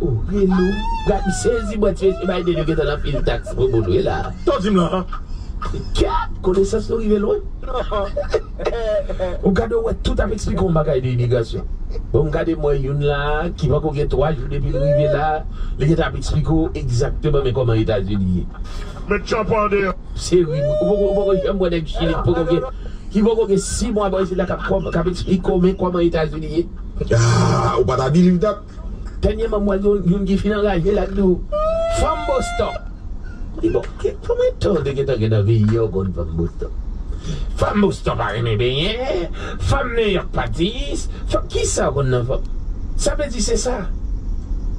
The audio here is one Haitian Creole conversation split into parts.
Oh hello gad m sezi bwè ti mesye Biden yo gentan nan pile tax pou moun wi la. Saw dim lan an. Gad konesans nou rive lwen. Ou gade ou wè tout ap eksplike yon bagay de imigrasyon. Bon m gade m wè youn la ki pako gen 3 jou depi l rive la li gentan ap eksplike w egzakteman men kòman etazini ye. Met tchanpan an deyò. Se ri wi ou poko janm wè nèg chili ki poko gen 6 mwa bò isit la kap eksplike w men kòman etazini ye. Ahh ou pa ta di liv dat. Dènyèman m wè youn ki fin anraje lap di w fanm boston li bon konbyen tan ou te gentan gen nan vi yo ou konn fanm boston fanm boston pa renmen benyen fanm nouyòk pa tiyis fanm kisa ou konn nan fanm sa vle di se sa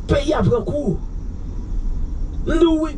peyi a pran kou m di w wi.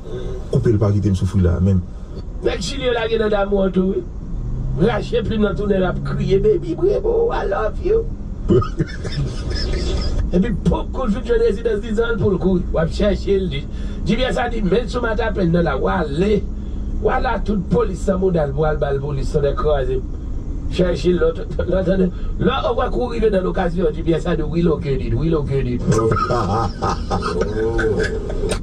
Koupel pa kitem soufri la menm. Nèg chilien lage nan damou an tou wi rache plim nan tounen lap kriye baby brebo I love you epi poop koul fin jwenn rezidans dizanl poul kouri wap chèchel di jibyen sa di menl sou mata pèl nan la wale wala tout polis san moudal pou al bal polis tonnè krazem chèche lòt Lò ou wè kou rive nan lokasyon di pyè sa di we located, we located ooh.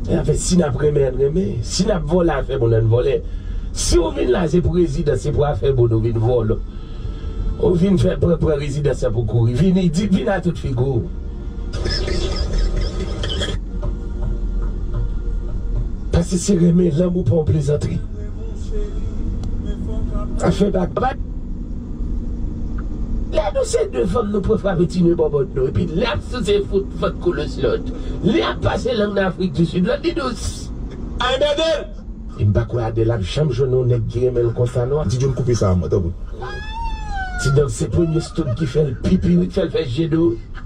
Zafè si nap renmen ann renmen, si nap vòlè afè moun ann vòlè, si ou vin la se pou rezidans se pou afè moun ou vin vòlò ou vin fè pran pran rezidans lan pou kouri vini di vin a tout figi w pase se renmen lanmou pa yon plezantri afè bak bat. Lè nou se de fanm nou pran frape ti nez bòbòt nou epi lè ap souse fout vant koulos lòt lè ap pase lang nan afrik di sud lòt di dous ay mèdem. Em pa kwè Adèle ap janm jwenn yon nèg ki renmen l konsa non. Ti John koupe sa a mwen tanpri. Ti dance se premye stud ki fèl pipi wi k fèl fè je dou.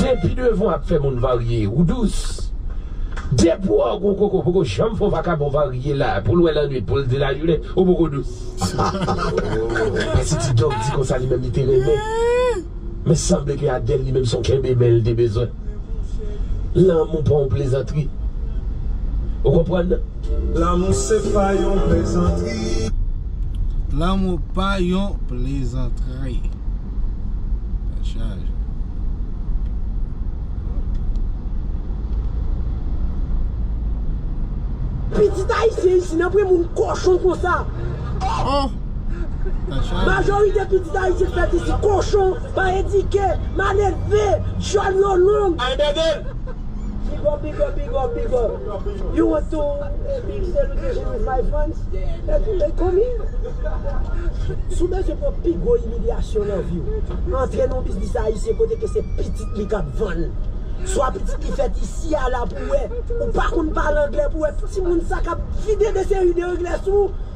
Depi devan w ap fè moun varye ou dous Depi w gon koko ou poko janm fè yon vakabon varye la pou l wè lannwit pou l di lajounen ou poko dous Pase ti dòk di konsa li menm li te renmen Men sanble ke Adèl li menm se yon kenbe men li te bezwen Lanmou pa yon plezantri Ou konprann nan? Lanmou se pa yon plezantri. Lanmou pa yon plezantri. Sa chaje. Pitit ayisyen isin anpre moun kochon konsa oh majorite pitit ayisyen k fèt isit kochon pa edike mal elve dyòl yo long. Big up big up big up big up. You want to big celebration with my fans every day come here Si w bezwen pran pi gwo imilyasyon nan vi w, antre nan yon biznis ayisyen kote ke se pitit li k ap vann Swa pitit li fèt isi a la pou w wè Ou pa konn pale anglè pou w wè timoun sa k ap vide de seri de anglè sou ou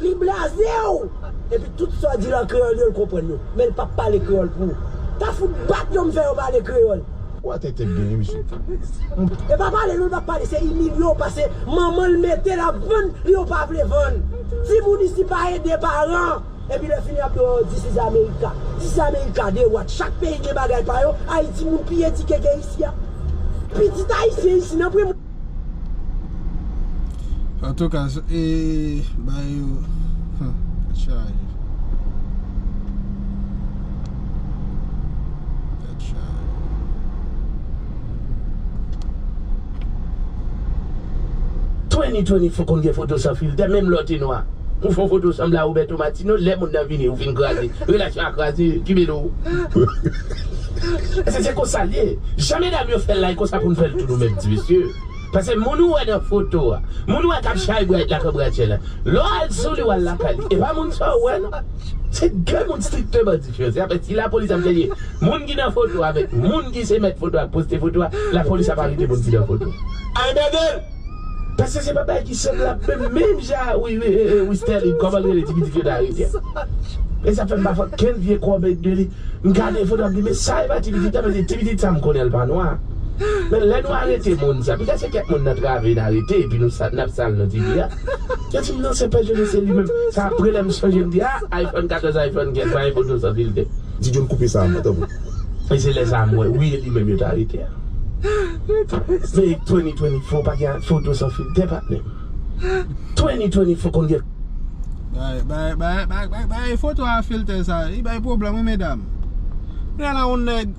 Li blaze w! Epi tout sa w di l an kreyòl yo l konprann yo. Men l pap pale kreyòl pou ou. Ta fout bat yo m fè yo pale kreyòl. Ou atè tèt genyen mesye. E pa pale non li pa pale se imilye w pase manman l mete l ap vann li yo pa vle vann. Timoun isi pa ede paran. Epi lè fini ap di w this is America. This is America de what? Chak peyi gen bagay pa yo, Ayiti moun pi edike ke isi a. Pitit ayisyen isi nan premye. Antouka e bay yo tèt chaje tèt chaje. Twenny twenny fò konn gen foto san filtè menm lè w te nwa ou fè yon foto w sanble a Roberto Martino lè mond nan vini ou fin kraze relasyon a kraze ki mele w. Ese se konsal ye Jan medam yo fèl la e konsa poun fèl tou nou menm ti mesye pase moun ou wè nan foto a moun ou wè kap chay bright la kan bright chèlè lè w al souli wal lakay li epa moun sa ou wè nan se de moun strikteman diferan se apè si lapolis ap chèche moun ki nan foto avèk moun ki se mèt foto ak poste foto a lapolis ap arete moun ki nan foto a. Ay bègèl! Paske se pa bagay ki sanblab menm menm jan wi wi Sterline kòman l rele ti pitit yo te arete a e sa fè m pafwa kèl vye kòmèt de li m gade foto a m di men sa epa ti pitit la men se ti pitit sa m konnen l pa nwa men lè nou arete moun sa pita se kèk moun nan trave n arete epi nou n ap sal non ti fi a yo di m non se pè Joli se li menm se apre lè m sonje m di a iphone 14 iphone 15 pa gen foto san filtè. Ti John koupe sa a mwen tanpri. E se lè sa a m wè wi e li menm yo te arete a. Fake 2024 pa gen foto san filtè patnè 2024 konn gen. Bay foto a filtè sa li bay pwoblèm wi medam Kounye la yon nèg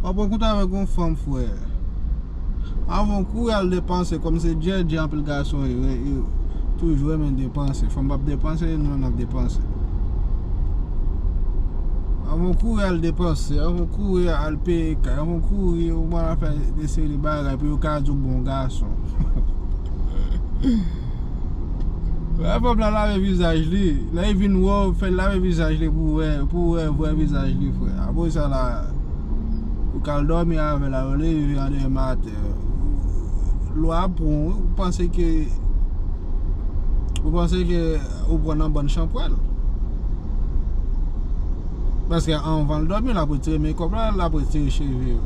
wap an koup avèk yon fanm frè Avan kou yal depanse kòm se djèdjè anpil gason toujou renmen depanse fanm pap depanse nou menm nap depanse Avan kou yal depanse kouri al peye kay ou kouri ou pran al fè de seri de bagay pou yo ka di ou bon gason lè fanm nan lave vizaj li lè li vin wè ou fè l lave vizaj li pou ou wè vrè vizaj li frè apre sa la ou ka al dòmi avè l ou leve an demen maten lwa ap pran ou ou panse ke ou panse ke ou pran nan bann chanpwèl Paske anvan l dòmi, l ap retire mekòp la, l ap retire cheve yo.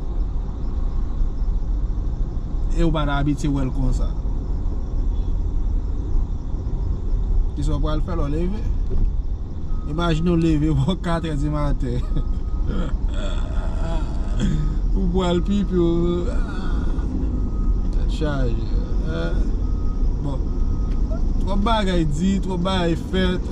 E ou pa ta abitye wè l konsa. Ki sa w pral fè lè w leve? Imajine w leve bò katrè di maten. Ou pral pipi w. Tèt chaje. Bon, twòp bagay di, twòp bagay fèt.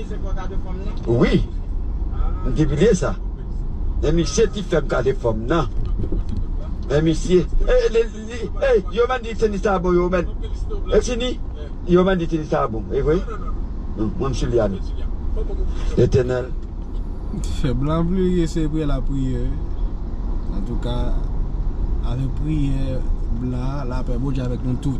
Wi, m te bliye sa. E misye ki fè m gade fòm nan. E misye, e yo menm di tenis la bon yo menm. E fini, yo menm di tenis la bon. E vre? Mwen m sou li a nou. Letènèl. Fèb la vle li eseye priye la priye. Antouka, avèk priye, blan, lapè Bondye avèk nou tout.